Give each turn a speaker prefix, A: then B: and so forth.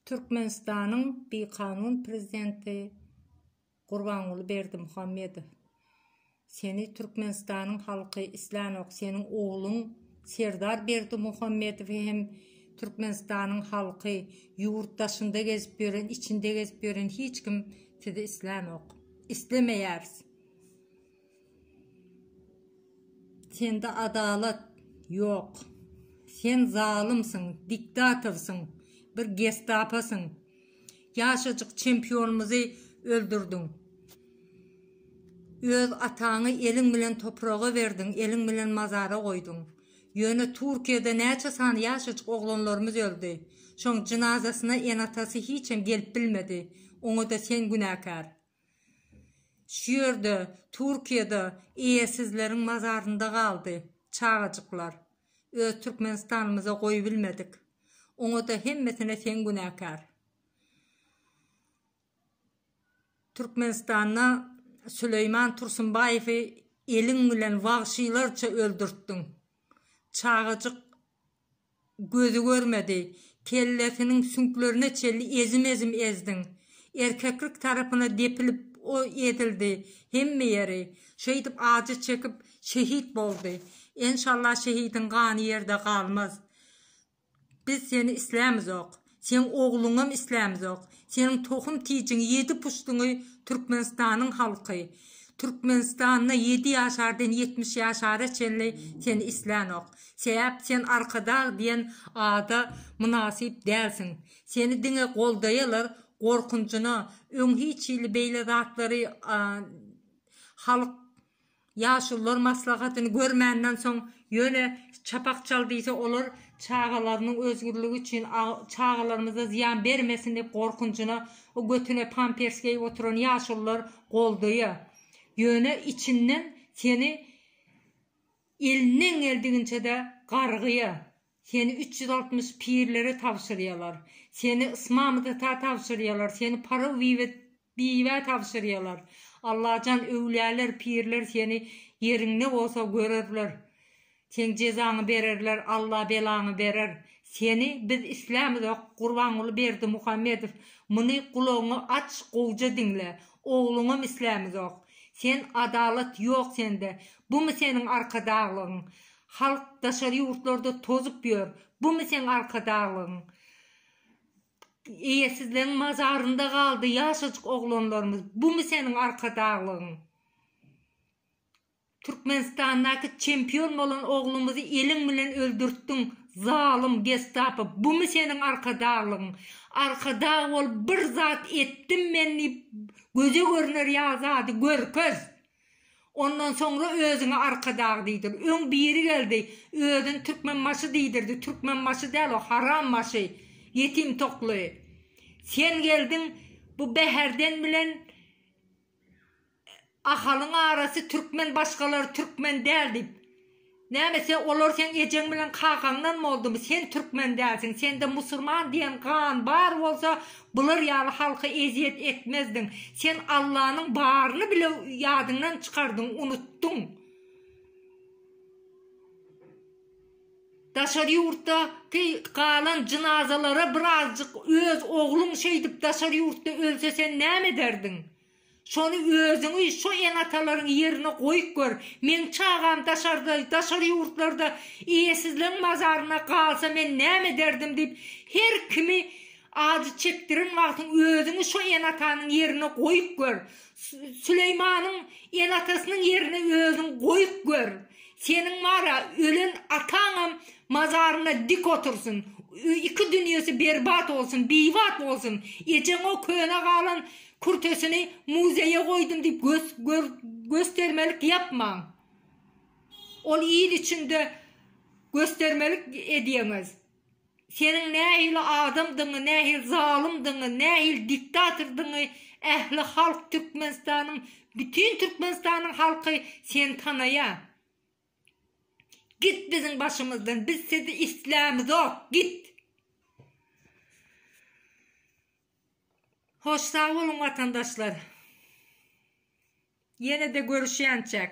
A: Türkmenistanyň bikanun prezidenti Gurbanguly Berdimuhamedow seni Türkmenistanyň halky islänok seniň ogluň Serdar Berdimuhamedowy hem Türkmenistanyň halky ýurt daşynda gezip ýören içinde gezip ýören hiç kim sizi islänok islemeýäris. Sende adalat ýok. Sen zalymsyň, diktatorsyň, bir gestaposyň. Ýaşajyk çempionymyzy öldürdiň. Öz ataňy eliň bilen topraga berdiň, eliň bilen mazara goýduň. Ýöne Türkiýede näçe sany ýaşajyk oglanlarymyz öldi. Şoň jynazasyna ene-atasy hiçem gelip bilmedi. Oňa-da sen günäkär. Şu ýerde, Türkiýede eýesizleriň mazarynda galdy çagajyklar. Öz Türkmenistanymyza goýubilmedik. Oňa-da hemmesine sen günäkär. Türkmenistanda Süleýman Tursunbaýewi eliň bilen wagşylarça öldürtdiň. Çagajyk gözi görmedi, kellesiniň süňklerine çenli ezim-ezim ezdiň. Erkeklik tarapyna depilip o ezildi, hemme ýeri. Şeýdip ajy çekip, şehit boldy. Enşalla şehidiň gany ýerde galmaz. Biz seni islämizok. Seň ogluňam islämzok. Seniň tohum tijiňi ýedi puştuňy Türkmenistanyň halky. Türkmenistanda ýedi ýaşardan ýetmiş ýaşara çenli seni islänok. Sebäp sen Arkadag diýen ada mynasyp dälsiň. Seni diňe goldaýalar gorkunjyna öň hiç hili beýle zatlary halk Ýaşulular maslahatyny görmänden soň, ýöne çapak çal diýse, olar çagalarynyň özgürligi üçin, çagalarymyza zyýan bermesin diýip gorkunjyna o götüne pampers geýip oturan ýaşulular goldaýa. Ýöne içinden seni elinden geldiginçe-de gargýa. Seni üç ýüz altmyş pirlere tabşyrýalar. Seni Ysmamytata tabşyrýalar, seni Paraw bibä tabşyrýalar. Allajan, öwlüýäler, pirler seni ýeriň ne bolsa görerler. Seň jezaňy bererler, Alla belaňy berer. Seni biz islämizok, Gurbanguly Berdimuhamedow, muny gulagyňy aç, gowja diňle. Ogluňam islämizok. Sen adalat ýok sende. Bumy seniň arkadaglygyň? Halk daşary ýurtlarda tozup ýör. Bumy seň arkadaglygyň? Eýesizleň mazarynda galdy ýaşajyk oglanlarymyz. Bumy seniň arkadaglygyň? Türkmenistandaky çempion bolan oglumyzy eliň bilen öldürtdiň, zalym, gestapo. Bumy seniň arkadaglygyň? Arkadag bolup bir zat etdim men diýip göze görner ýa zady görkez. Ondan soňra özüňe arkadag diýdir. Öň biri geldi, özüni Türkmenbaşy diýdirdi, Türkmenbaşy däl o, harambaşy, ýetim tokly. Sen geldiň, bu Bäherden bilen Ahalyň arasy türkmen, başgalary türkmen däl diýip. Näme sen olar seň ejeň bilen kakaňdan boldumy sen türkmen dälsiň sende musurman diýen gan bar bolsa bular ýaly halka ezýet etmezdiň sen Allanyň baryny bile ýadyňdan çykardyň unutdyň daşary ýurtda ki galan jynazalara bir azjyk öz ogluň şeýdip daşary ýurtda ölse sen näme ederdiň Şony özüňi şo enatalaryň ýerine goýup gör. Meň çagam daşarda, daşary ýurtlarda eýesizleň mazaryna galsa men näme ederdim diýip her kimi ajy çekdiren wagtyň özüňi şo enatanyň ýerine goýup gör. Süleýmanyň enatasynyň ýerine özüň goýup gör. Seniň wara ölen ataňam mazaryna dik otursyn. Iki dünýesi berbat bolsun, biýbat bolsun. Ejeňo köne galan Kürtesini muzeýe goýdum diýip göstermelik ýapmaň. Ol il içinde göstermelik edýäňiz. Seniň nähili adamdygyňy, nähili zalymdygyňy, nähili diktatordygyňy ähli halk Türkmenistanyň, bütin Türkmenistanyň halky seni tanaýar. Git biziň başymyzdan, biz sizi islämizok, git! Hoş sag boluň watandaşlar. Ýenede görüşýänçäk.